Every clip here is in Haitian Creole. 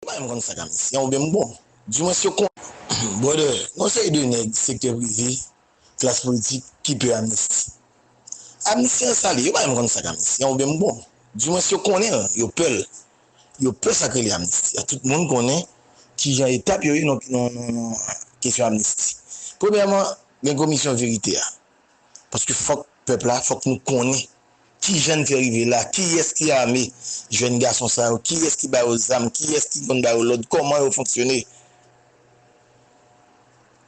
Ou pa menm konn fè kamisiyen oubyen m bon? Du mwens yo konn. Brother, gon seri de nèg sektè prive, klas politik ki pè amnisti. Amnisti an sa li? Yo pa menm konn sa kamisiyen oubyen m bon? Du mwens yo konnen l, yo pè l. Yo pè sa k rele amnisti a. Tout moun konnen ki jan etap yo ye nan kesyon amnisti. Premyèman, gen komisyon verite a. Paske fòk pèp la, fòk nou konnen kijan n fè rive la, kiyès ki ame jèn gason sa yo, kiyès ki ba yo zam, kiyès ki konn ba yo lòd, kòman yo fonksyone.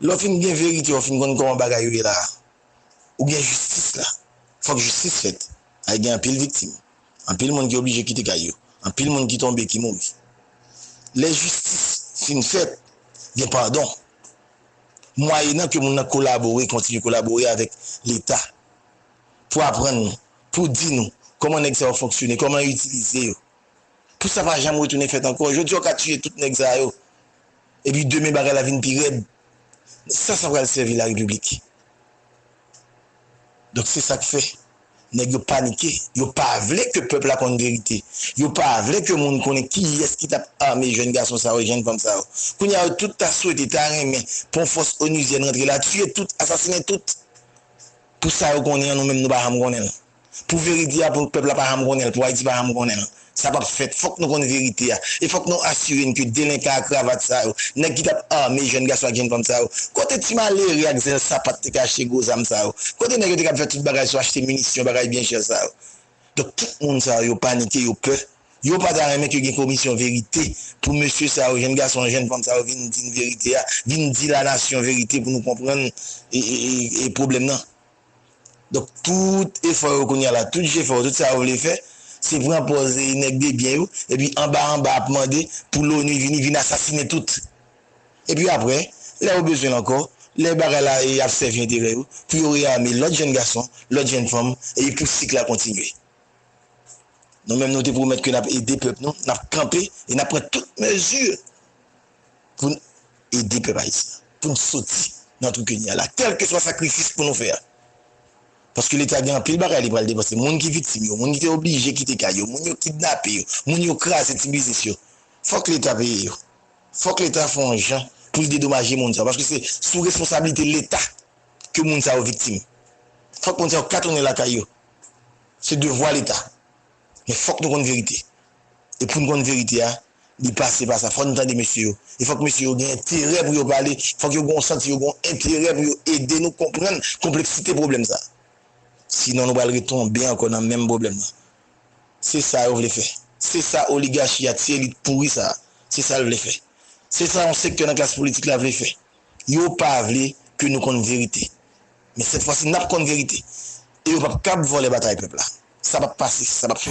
Lè w fin gen verite, w fin konn kòman bagay yo ye la a, ou gen jistis la. Fòk jistis fèt. Paske gen anpil viktim. Anpil moun ki oblije kite kay yo. Anpil moun ki tonbe, ki mouri. Lè jistis fin fèt, gen padon. mwayenan ke moun nan kolabore, kontinye kolabore avèk leta pou aprann nou, pou di nou kòman nèg sa yo fonksyone, kòman yo itilize yo, pou sa pa janm retounen fèt ankò. Jodi a ou ka tiye tout nèg sa yo, epi demen bagay la vin pi rèd. Sa sa pral sèvi larepiblik? Donk se sak fè nèg yo panike, yo pa vle ke pèp la konn verite, yo pa vle ke moun konnen kiyès ki tap ame jèn gason sa yo, jèn fanm sa yo. Kounya yo tout ta swete, ta renmen pou yon fòs onuzyèn rantre la, tiye tout, asasinen tout pou sa yo konnen an nou menm nou pa janm konnen l. Pou verite a pou pèp la pa janm konnen l, pou Ayiti pa janm konnen l. Sa p ap fèt. Fòk nou konn verite a. E fòk nou asire n ke delenkan a kravat sa yo, nèg ki t ap ame jèn gason ak jèn fanm sa yo, kote ti malere ak zèl sapat te ka achte gwo zam sa yo? Kote nèg yo te kab fè tout bagay sou achte minisyon, bagay byen chè sa yo? Donk tout moun sa yo, yo panike, yo pè. Yo pa ta renmen ke gen komisyon verite pou mesye sa yo, jèn gason, jèn fanm sa yo vin di n verite a, vin di lanasyon verite pou nou konprann pwoblèm nan. Donk tout efò yo kounye a la, tout jefè yo, tout sa yo vle fè, se pran pòz nèg debyen yo, epi anba anba ap mande pou loni vini, vin asasine tout. Epi apre, lè yo bezwen l ankò, lè bagay la ap sèvi enterè yo, pou yo reame lòt jenn gason, lòt jenn fanm, epi pou sik la kontinye. Nou menm nou te pwomèt ke n ap ede pèp nou, n ap kanpe, e n ap pran tout mezi pou n ede pèp ayisyen an pou n soti nan twou ke n ye a la kèlkeswa sakrifis pou nou fè a paske leta gen anpil bagay li pral depanse moun ki viktim yo moun ki te oblije kite kay yo moun yo kidnape yo moun yo kraze ti biznis yo fòk leta peye yo fòk leta fè yon jan pou l dedomaje moun sa yo paske se sou responsablite leta ke moun sa yo viktim fòk moun sa yo ka tounen lakay yo se devwa leta. Men fòk nou konn verite. E pou n konn verite a, li pase pa sa. Fòk nou tande mesye yo. E fòk mesye yo gen enterè pou yo pale. Fòk yo gen santi yo gen yon enterè pou yo ede nou konprann konpleksite pwoblèm sa a. Sinon nou pral retonbe ankò nan menm pwoblèm nan. Se sa yo vle fè. Se sa oligachi a, ti elit pouri sa a, se sa l vle fè. Se sa yon sektè nan klas politik la vle fè. Yo pa vle ke nou konn verite. Men sèt fwa si nap konn verite e yo pap kab vòlè batay pèp la. Sa pap pase, sa pap fèt.